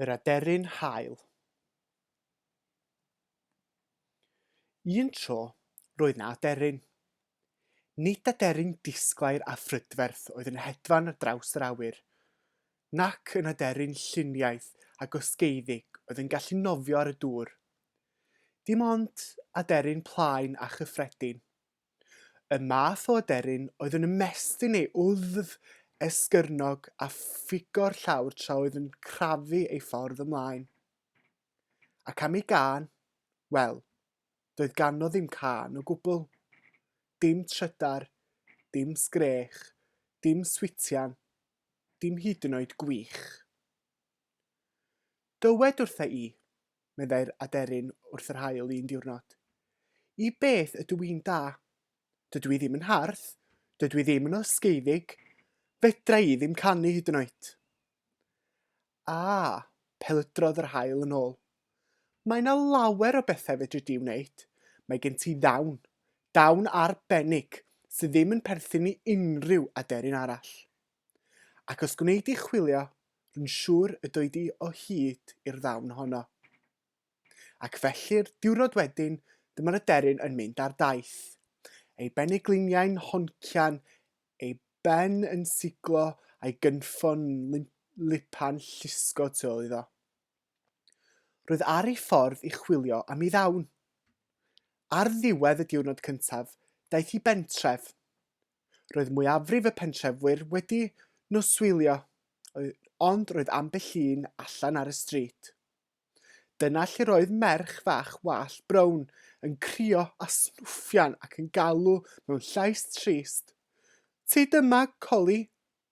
Yr aderyn haul. Un tro, roedd 'na aderyn. Nid aderyn disglair a phrydferth oedd yn hedfan ar draws yr awyr, nac yn aderyn lluniaeth a gosgeiddig oedd yn gallu nofio ar y dŵr. Dim ond aderyn plaen a chyffredin. Y math o aderyn oedd yn ymestyn ei wddf esgyrnog a phugo'r llawr tra oedd yn crafu ei ffordd ymlaen. Ac am ei gân? Wel, doedd ganddo ddim cân o gwbl. Dim trydar, dim sgrech, dim switian, dim hyd yn oed gwych. Dywed wrtha i, meddai'r aderyn wrth yr haul un diwrnod. I beth ydw i'n da? Dydw i ddim yn hardd, dydw i ddim yn osgeiddig, fedra i ddim canu hyd yn oed. A, pelydrodd yr haul yn ôl. Mae yna lawer o bethau fedri di wneud. Mae gen ti ddawn, dawn arbennig, sydd ddim yn perthyn i unrhyw aderyn arall. Ac os gwnei di chwilio, rwy'n siŵr y doi di o hyd i'r ddawn honno. Ac felly'r diwrnod wedyn, dyma'r aderyn yn mynd ar daith. Ei benegliniau'n honcian, ei ben yn siglo a'i gynffon yn lipan llusgo tu ôl iddo. Roedd ar ei ffordd i chwilio am ei ddawn. Ar ddiwedd y diwrnod cyntaf, daeth hi bentref. Roedd mwyafrif y pentrefwyr wedi noswylio, ond roedd ambell un allan ar y stryd. Dyna lle roedd merch fach wallt brown yn crio a snwffian ac yn galw mewn llais trist, Ti dyma, Collie?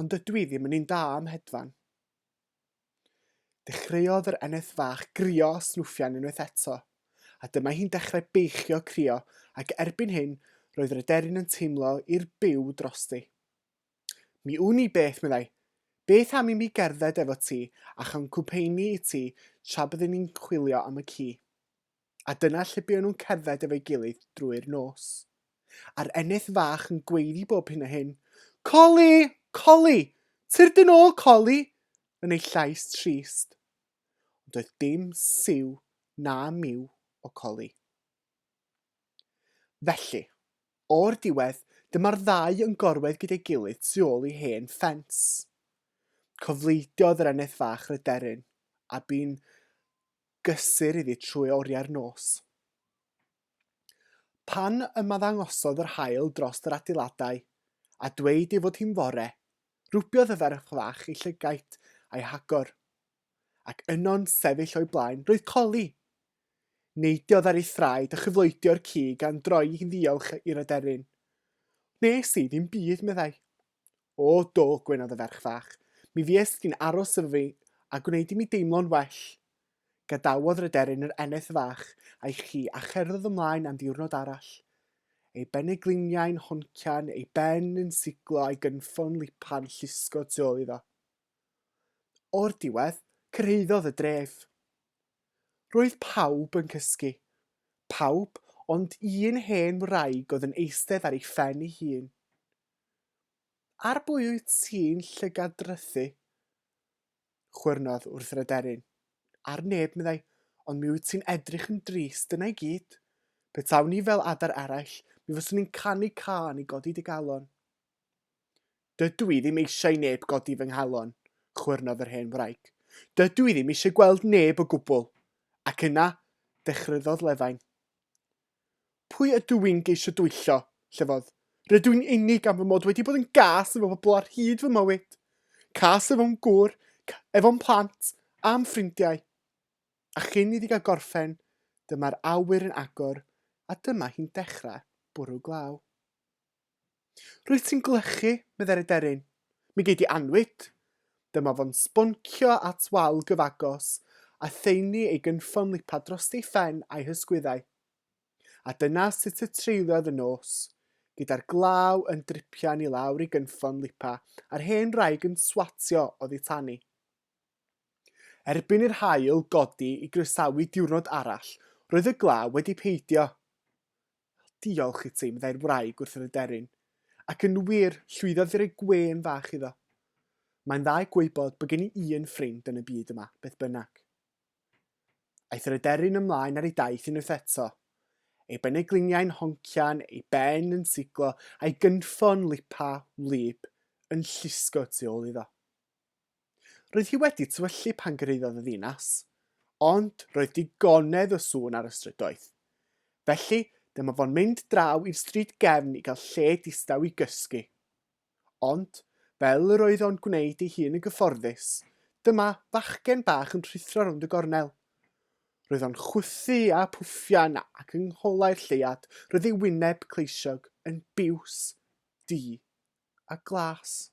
Ond dydw i ddim yn un da am hedfan. Dechreuodd yr eneth fach grio a snwffian unwaith eto, a dyma hi'n dechrau beichio crio ac erbyn hyn roedd yr aderyn yn teimlo i'r byw drosti. Mi wn i beth, meddai. Beth am i mi gerdded efo ti a chael cwmpeini i ti tra byddwn ni'n chwilio am y ci? a dyna lle buon nhw'n cerdded efo'i gilydd drwy'r nos. A'r eneth fach yn gweiddi bob hyn a hyn, Coli! Coli! Tyr dyn ôl, Coli! yn ei llais trist. Ond oedd dim siw na miw o Coli. Felly, o'r diwedd, dyma'r ddau yn gorwedd gyda'i gilydd tu ôl i hen ffens. Cofleidiodd yr eneth fach ryderyn, a bu'n gysur iddi trwy oriau'r nos. Pan ymaddangosodd yr haul drost yr adeiladau, a dweud ei fod hi'n fore, rwbiodd y ferch fach ei llygaid a'i hagor. Ac yno'n sefyll o'i blaen, roedd Coli! Neidiodd ar ei thraed a chyfloedio'r cig a'n droi hi'n ddiolch i'r aderyn. Wnes i ddim byd, meddai. O, do, gwynodd y ferch fach. Mi fuest ti'n aros efo fi, a gwneud i mi deimlo'n well. Gadawodd Rhyderyn yr eneth fach a'i chi a cherddodd ymlaen am ddiwrnod arall. Ei benegliniau'n honcian, ei ben yn siglo a'i gynffon lipan llusgo tu ôl iddo. O'r diwedd, cyrhaeddodd y dref. Roedd pawb yn cysgu. Pawb ond un hen wraig oedd yn eistedd ar ei phen ei hun. Ar bwy wyt ti'n llygadrythu? chwyrnodd wrth yr aderyn. Ar neb, meddai, ond mi wyt ti'n edrych yn drist, dyna i gyd. Petawn i fel adar eraill, mi fyswn i'n canu cân i godi dy galon. Dydw i ddim eisiau i neb godi fy nghalon, chwyrnodd yr hen wraig. Dydw i ddim eisiau gweld neb o gwbl. Ac yna, dechryddodd Lefain. Pwy ydw i'n geisio dwyllo? llefodd. Rydw i'n unig am fy mod wedi bod yn gas efo pobl ar hyd fy mywyd. Cas efo'n gŵr, efo'n plant, a'm ffrindiau. A chyn iddi gael gorffen, dyma'r awyr yn agor a dyma hi'n dechrau bwrw glaw. Rwyt ti'n glychu, meddai'r aderyn. Mi gei di annwyd! Dyma fo'n sboncio at wal gyfagos, a theini ei gynffon lipa drost ei phen a'i hysgwyddau. A dyna sut y treuliodd y nos, gyda'r glaw yn dripian i lawr ei gynffon lipa a'r hen wraig yn swatio oddi tani. Erbyn i'r haul godi i groesawu diwrnod arall, roedd y glaw wedi peidio. Diolch i ti, meddai'r wraig wrth yr aderyn, ac yn wir, llwyddodd i roi gwên fach iddo. Mae'n dda i gwybod bod gen i un ffrind yn y byd yma, beth bynnag. Aeth yr aderyn ymlaen ar ei daith unwaith eto, ei benegliniau'n honcian, ei ben yn siglo, a'i gynffon lipa, wlyb, yn llusgo tu ôl iddo. Roedd hi wedi tywyllu pan gyrhaeddodd y ddinas, ond roedd digonedd o sŵn ar y strydoedd. Felly, dyma fo'n mynd draw i'r stryd gefn i gael lle distaw i gysgu. Ond, fel yr oedd o'n gwneud ei hun yn gyfforddus, dyma fachgen bach yn rhuthro rownd y gornel. Roedd o'n chwythu a phwffian ac yng ngholau'r lleuad roedd ei wyneb cleisiog yn biws, du a glas.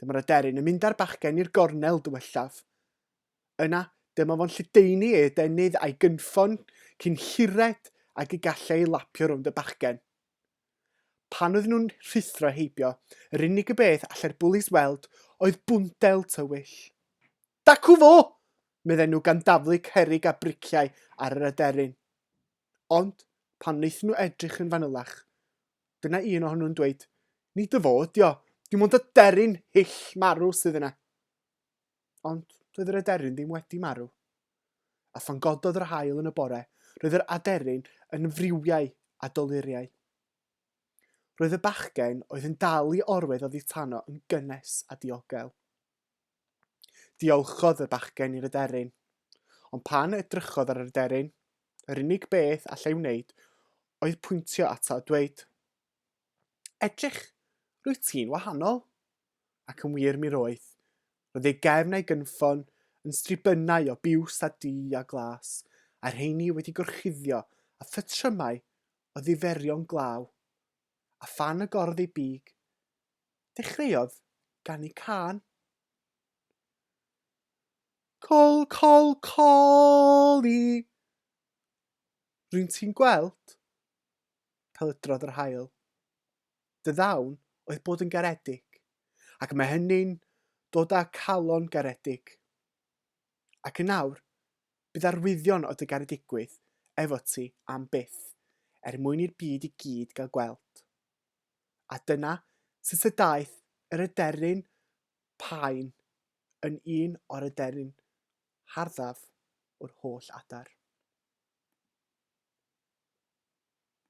Dyma'r aderyn yn mynd â'r bachgen i'r gornel dywellaf. Yna, dyma fo'n lledaenu ei adenydd a'i gynffon cyn hired ag y gallai ei lapio rownd y bachgen. Pan oedden nhw'n rhuthro heibio, yr unig y beth allai'r bwlis weld oedd bwndel tywyll. Dacw fo! medden nhw gan daflu cerrig a briciau ar yr aderyn. Ond, pan wnaethon nhw edrych yn fanylach, Dyna un ohonyn nhw'n dweud, Ni dy fo ydi o, dim ond aderyn hyll marw sydd yna. Ond doedd yr aderyn ddim wedi marw. A phan gododd yr hael yn y bore, roedd yr aderyn yn friwiau a doluriau. Roedd y bachgen oedd yn dal i orwedd oddi tano yn gynnes a diogel. Diolchodd y bachgen i'r aderyn, ond pan edrychodd ar yr aderyn, yr unig beth allai wneud oedd pwyntio ato a dweud, Edrych, rwyt ti'n wahanol! Ac yn wir mi roedd. Roedd ei gefn a'i gynffon yn stribynau o biws a du a glas, a'r rheini wedi gorchuddio â phatrymau o ddiferion glaw. A phan agorodd ei big, Dechreuodd ganu cân. Col, col, coli! Rwy'n ti'n gweld? Pelydrodd yr hael. Dy ddawn oedd bod yn garedig, ac mae hynny'n dod â calon garedig. Ac yn awr, bydd arwyddion o dy garedigwydd efo ti am byth, er mwyn i'r byd i gyd gael gweld. a dyna sut y daeth yr aderyn paun yn un o'r aderyn harddaf o'r holl adar.